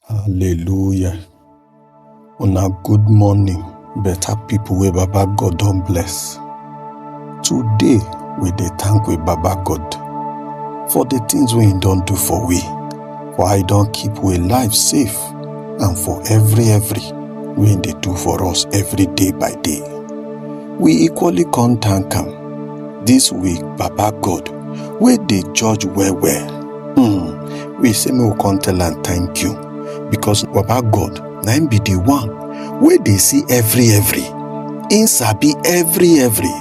Hallelujah. Una good morning, better people wey Baba God don bless. Today, we dey thank we Baba God for the things wey he don do for we, for how he don keep we life safe and for every every wey he dey do for us every day by day. We equally come thank am this week, Baba God, wey dey judge well well. we say make we come tell am thank you because baba god na him be the one wey dey see every every him sabi every every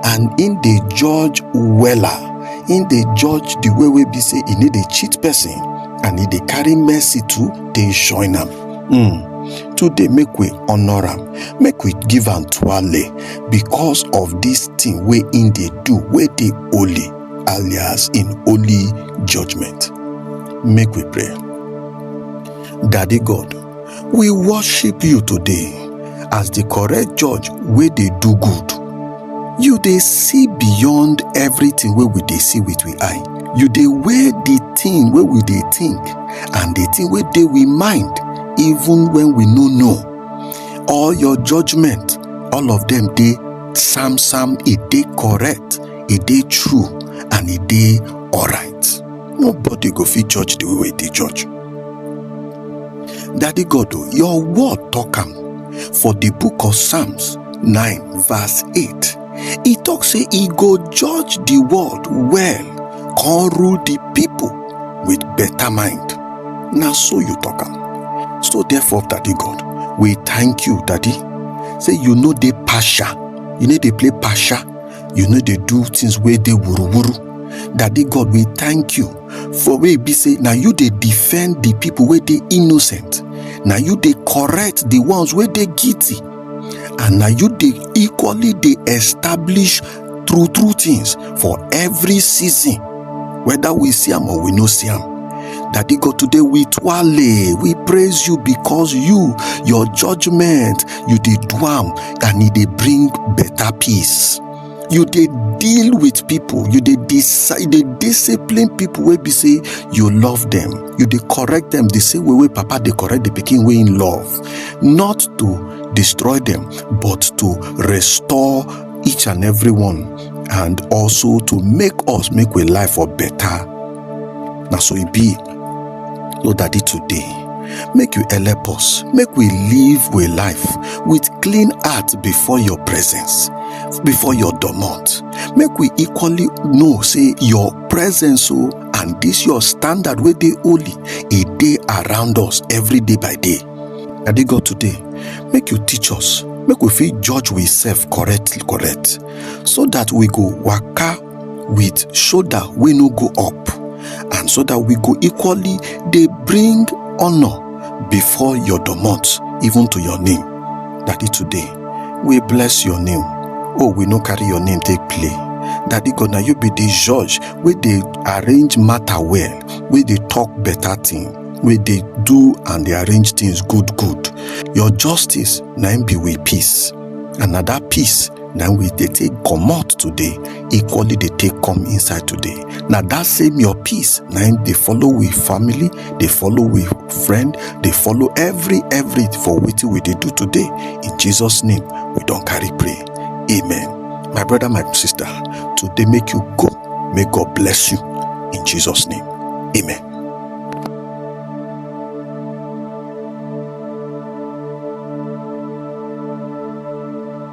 and him dey judge wella him dey judge the way wey be say e no dey cheat person and e dey carry mercy too dey join am mm. today make we honour am make we give am twale because of this thing wey him dey do wey dey holy alias in holy judgment. Make we pray. Daddy God, we worship you today as the correct judge wey dey do good. You dey see beyond everything wey we dey see with we eye. You dey weigh the thing wey we dey think and the thing wey dey we mind even when we no know. All your judgment, all of them dey sam sam, e dey correct. e dey true and e dey alright nobody go fit judge the way wey e dey judge daddy god o your word talk am for the book of psalms 9 verse 8 e talk say e go judge the world well come rule the people with better mind na so you talk am so therefore daddy god we thank you daddy say you no dey partial you no dey play partial you no dey do things wey dey wuruwuru daddy god we thank you for wey e be say na you dey defend the people wey dey innocent na you dey correct the ones wey dey guilty and na you dey equally dey establish true true things for every season whether we see am or we no see am Daddy God, today we twale, we praise you because you, your judgment, you did do am. and e dey bring better peace you dey deal with people you dey decide dey discipline people wey be say you love them you dey correct them the same way wey papa dey correct the pikin wey him love not to destroy them but to restore each and every one and also to make us make we life for better na so e be No daddy today, make you help us, make we live we life with clean heart before your presence, before your domot. Make we equally know say your presence o and this your standard wey dey holy e dey around us every day by day. Daddy God today, make you teach us, make we fit judge we self correct correct so that we go waka with shoulder wey no go up and so that we go equally dey bring honor before your domot even to your name daddy today we bless your name oh we no carry your name take play daddy god na you be the judge wey dey arrange matter well wey dey talk better thing wey dey do and dey arrange things good good your justice na im be we peace and na that peace na we dey take comot today equally dey take come inside today na that same your peace na im dey follow we family dey follow we friend dey follow every every for wetin we dey do today in jesus name we don carry pray amen my brother my sister today make you go may god bless you in jesus name amen